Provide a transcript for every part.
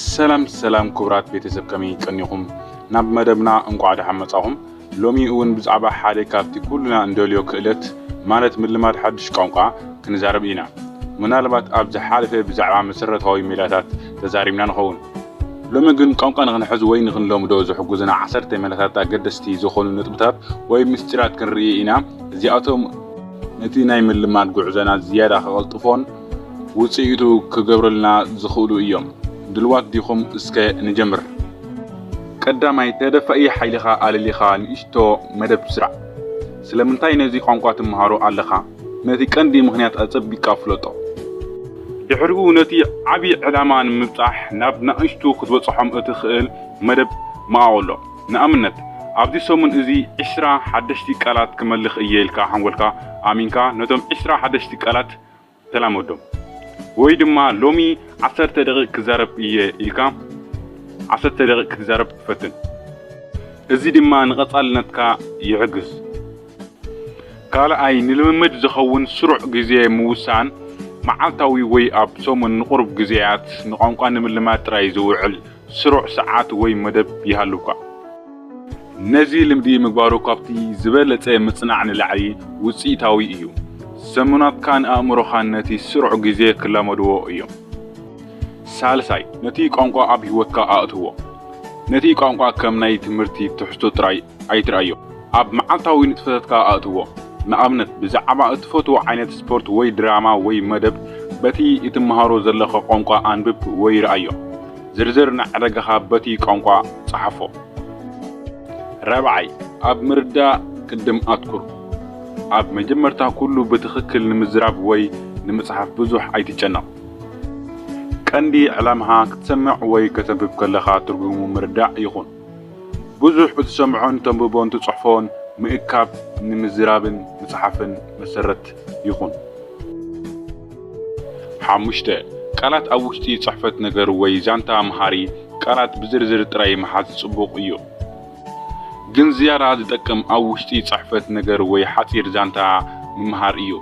ሰላም ሰላም ክቡራት ቤተሰብ ከመይ ጸኒኹም ናብ መደብና እንቋዕ ደሓን መጻኹም። ሎሚ እውን ብዛዕባ ሓደ ካብቲ ኩልና እንደልዮ ክእለት ማለት ምልማድ ሓድሽ ቋንቋ ክንዛረብ ኢና። ምናልባት ኣብ ዝሓለፈ ብዛዕባ መሰረታዊ ሜላታት ተዛሪብና ንኸውን። ሎሚ ግን ቋንቋ ንኽንሕዝ ወይ ንኽንለምዶ ዝሕጉዝና ዓሰርተ ሜላታት ኣገደስቲ ዝኾኑ ነጥብታት ወይ ምስጢራት ክንርኢ ኢና። እዚኣቶም ነቲ ናይ ምልማድ ጉዕዞና ዝያዳ ከቐልጥፎን ውጽኢቱ ክገብርልና ዝኽእሉ እዮም። ድልዋት ዲኹም እስከ ንጀምር። ቀዳማይ ተደፋኢ ሓይልኻ ኣለሊኻ ንእሽቶ መደብ ስራዕ። ስለምንታይ ነዚ ቋንቋ ትመሃሮ ኣለኻ? ነቲ ቀንዲ ምኽንያት ኣጸቢቅካ ፍለጦ። ድሕሪኡ ነቲ ዓቢ ዕላማ ንምብጻሕ ናብ ናእሽቱ ክትበጽሖም እትኽእል መደብ መቓቕሎ። ንኣብነት ኣብዚ ሰሙን እዚ ዕስራ ሓደሽቲ ቃላት ክመልኽ እየ ኢልካ ሓንጎልካ ኣሚንካ ነቶም ዕስራ ሓደሽቲ ቃላት ተላመዶም። ወይ ድማ ሎሚ ዓሰርተ ደቒቕ ክዛረብ እየ ኢልካ ዓሰርተ ደቒቕ ክትዛረብ ፈትን። እዚ ድማ ንቐጻልነትካ ይሕግዝ። ካልኣይ፣ ንልምምድ ዝኸውን ስሩዕ ግዜ ምውሳን፣ መዓልታዊ ወይ ኣብ ሰሙን ንቑሩብ ግዜያት ንቋንቋ ንምልማድ ጥራይ ዝውዕል ስሩዕ ሰዓት ወይ መደብ ይሃልውካ። ነዚ ልምዲ ምግባሩ ካብቲ ዝበለጸ ምጽናዕ ንላዕሊ ውጽኢታዊ እዩ። ሰሙናትካን ኣእምሮኻን ነቲ ስሩዕ ግዜ ክላመድዎ እዮም። ሳልሳይ፣ ነቲ ቋንቋ ኣብ ህይወትካ ኣእትዎ። ነቲ ቋንቋ ከም ናይ ትምህርቲ ትሕዝቶ ጥራይ ኣይትርኣዮ። ኣብ መዓልታዊ ንጥፈታትካ ኣእትዎ። ንኣብነት፣ ብዛዕባ እትፈትዎ ዓይነት ስፖርት ወይ ድራማ ወይ መደብ በቲ እትመሃሮ ዘለኻ ቋንቋ ኣንብብ ወይ ርኣዮ። ዝርዝር ናይ ዕዳጋኻ በቲ ቋንቋ ጽሓፎ። ራብዓይ፣ ኣብ ምርዳእ ቅድም ኣትኩር። ኣብ መጀመርታ ኩሉ ብትኽክል ንምዝራብ ወይ ንምጽሓፍ ብዙሕ ኣይትጨነቕ። ቀንዲ ዕላማኻ ክትሰምዕ ወይ ከተንብብ ከለኻ ትርጉሙ ምርዳእ ይኹን። ብዙሕ ብትሰምዖን ተንብቦን ትጽሕፎን ምእካብ ንምዝራብን ምጽሓፍን መሰረት ይኹን። ሓሙሽተ፣ ቃላት ኣብ ውሽጢ ጽሕፈት ነገር ወይ ዛንታ መሃሪ ቃላት ብዝርዝር ጥራይ ምሓዝ ጽቡቕ እዩ። ግን ዝያዳ ዝጠቅም ኣብ ውሽጢ ጽሕፈት ነገር ወይ ሓጺር ዛንታ ምምሃር እዩ።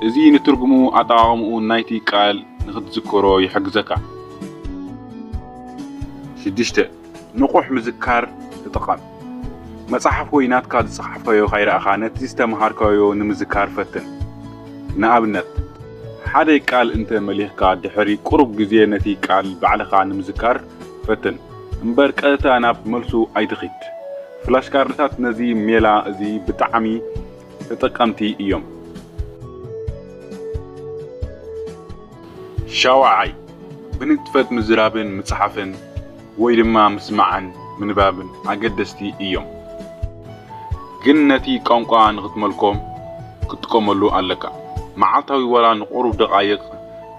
እዚ ንትርጉሙ ኣጠቓቕምኡ ናይቲ ቃል ንኽትዝክሮ ይሕግዘካ። ሽዱሽተ፣ ንቑሕ ምዝካር ተጠቐም። መጽሓፍ ወይ ናትካ ዝጸሓፍካዮ ካይረኣኻ ነቲ ዝተመሃርካዮ ንምዝካር ፈትን። ንኣብነት፣ ሓደ ቃል እንተ መሊኽካ ድሕሪ ቁሩብ ግዜ ነቲ ቃል ባዕልኻ ንምዝካር ፈትን እምበር ቀጥታ ናብ መልሱ ኣይትኺድ። ፍላሽካርድታት ነዚ ሜላ እዚ ብጣዕሚ ተጠቀምቲ እዮም። ሻውዓይ፣ ብንጥፈት ምዝራብን ምጽሓፍን ወይ ድማ ምስማዕን ምንባብን ኣገደስቲ እዮም። ግን ነቲ ቋንቋ ንኽትመልኮ ክትጥቀመሉ ኣለካ። መዓልታዊ ዋላ ንቑሩብ ደቓይቕ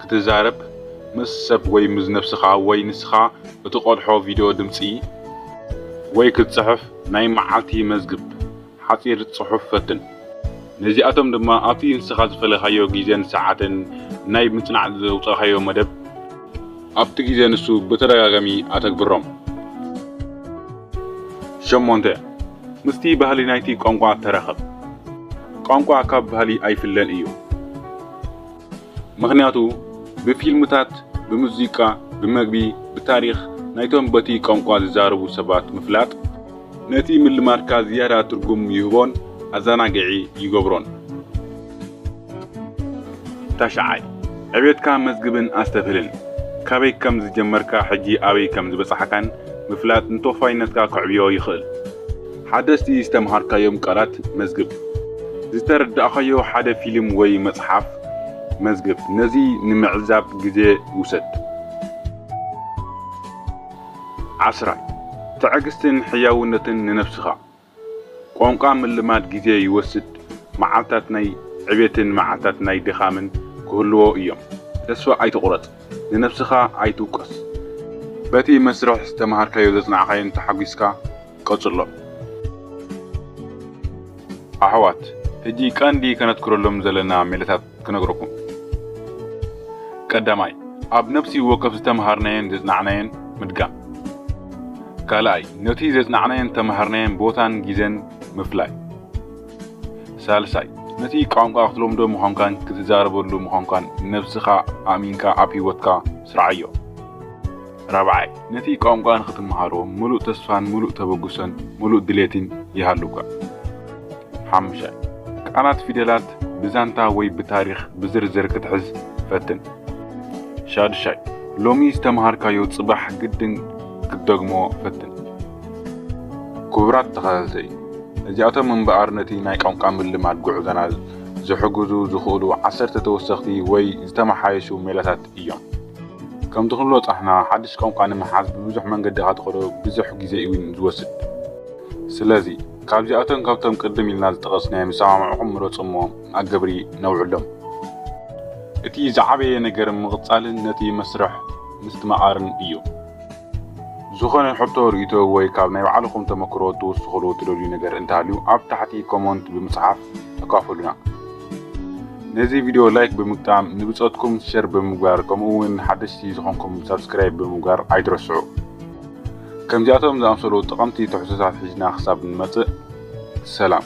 ክትዛረብ ምስ ሰብ ወይ ምስ ነብስኻ ወይ ንስኻ እትቐድሖ ቪድዮ ድምጺ ወይ ክትጽሕፍ ናይ መዓልቲ መዝግብ ሓጺር ጽሑፍ ፈትን። ነዚኣቶም ድማ ኣብቲ ንስኻ ዝፈለኻዮ ግዜን ሰዓትን ናይ ምጽናዕ ዘውጻእካዮ መደብ፣ ኣብቲ ግዜ ንሱ ብተደጋጋሚ ኣተግብሮም። ሸሞንተ፣ ምስቲ ባህሊ ናይቲ ቋንቋ ተራኸብ። ቋንቋ ካብ ባህሊ ኣይፍለን እዩ። ምኽንያቱ ብፊልምታት፣ ብሙዚቃ፣ ብመግቢ፣ ብታሪኽ ናይቶም በቲ ቋንቋ ዝዛረቡ ሰባት ምፍላጥ፣ ነቲ ምልማድካ ዝያዳ ትርጉም ይህቦን ኣዘናጋዒ ይገብሮን። ታሽዓይ፣ ዕብየትካ መዝግብን ኣስተብህልን። ካበይ ከም ዝጀመርካ ሕጂ ኣበይ ከም ዝበጻሕካን ምፍላጥ ንተወፋይነትካ ከዕብዮ ይኽእል። ሓደስቲ ዝተምሃርካዮም ቃላት መዝግብ። ዝተረዳእካዮ ሓደ ፊልም ወይ መጽሓፍ መዝግብ። ነዚ ንምዕዛብ ግዜ ውሰድ። ዓስራይ፣ ትዕግስትን ሕያውነትን ንነብስኻ። ቋንቋ ምልማድ ግዜ ይወስድ፣ መዓልታት ናይ ዕቤትን መዓልታት ናይ ድኻምን ክህልዎ እዮም። ተስፋ ኣይትቑረጽ። ንነብስኻ ኣይትውቀስ በቲ መስርሕ ዝተማሃርካዮ ዘጽናዕካዮን ተሓጒስካ ቀጽሎ። ኣሕዋት ሕጂ ቀንዲ ከነትኩረሎም ዘለና ሜላታት ክነግረኩም። ቀዳማይ ኣብ ነብሲ ወከፍ ዝተማሃርናዮን ዘጽናዕናዮን ምድጋም። ካልኣይ ነቲ ዘጽናዕናዮን ዝተማሃርናዮን ቦታን ጊዘን ምፍላይ። ሳልሳይ፣ ነቲ ቋንቋ ክትለምዶ ምዃንካን ክትዛረበሉ ምዃንካን ንነብስኻ ኣእሚንካ ኣብ ህይወትካ ስርዓዮ። ራብዓይ፣ ነቲ ቋንቋ ንኽትመሃሮ ምሉእ ተስፋን ምሉእ ተበግሶን ምሉእ ድሌትን ይሃሉካ። ሓሙሻይ፣ ቃላት ፊደላት ብዛንታ ወይ ብታሪኽ ብዝርዝር ክትሕዝ ፈትን። ሻዱሻይ፣ ሎሚ ዝተመሃርካዮ ጽባሕ ግድን ክትደግሞ ፈትን። ክቡራት ተኸታተልቲ፣ እዚኣቶም እምበኣር ነቲ ናይ ቋንቋ ምልማድ ጉዕዞና ዝሕግዙ ዝኽእሉ ዓሰርተ ተወሰኽቲ ወይ ዝተመሓየሹ ሜላታት እዮም። ከምቲ ክንብሎ ጸሕና ሓድሽ ቋንቋ ንምሓዝ ብብዙሕ መንገዲ እኻ ትኸዶ ብዘሕ ግዜ እዉን ዝወስድ። ስለዚ ካብዚኣቶም ካብቶም ቅድም ኢልና ዝጠቐስናዮም ዝሰማምዕኹም ምረጹ እሞ ኣገብሪ ነውዕሎም። እቲ ዝዓበየ ነገር ምቕጻልን ነቲ መስርሕ ምስትማቓርን እዩ። ዝኾነ ሕቶ ርእይቶ ወይ ካብ ናይ ባዕልኹም ተመክሮ ክትውስኽሉ እትደልዩ ነገር እንተሃልዩ ኣብ ታሕቲ ኮሞንት ብምጽሓፍ ተካፈሉና። ነዚ ቪድዮ ላይክ ብምግጣም ንብጾትኩም ሸር ብምግባር ከምኡ ውን ሓደሽቲ ዝኾንኩም ሳብስክራይብ ብምግባር ኣይትረስዑ። ከምዚኣቶም ዝኣምሰሉ ጠቐምቲ ትሕዝቶታት ሒዝና ክሳብ ንመጽእ ሰላም።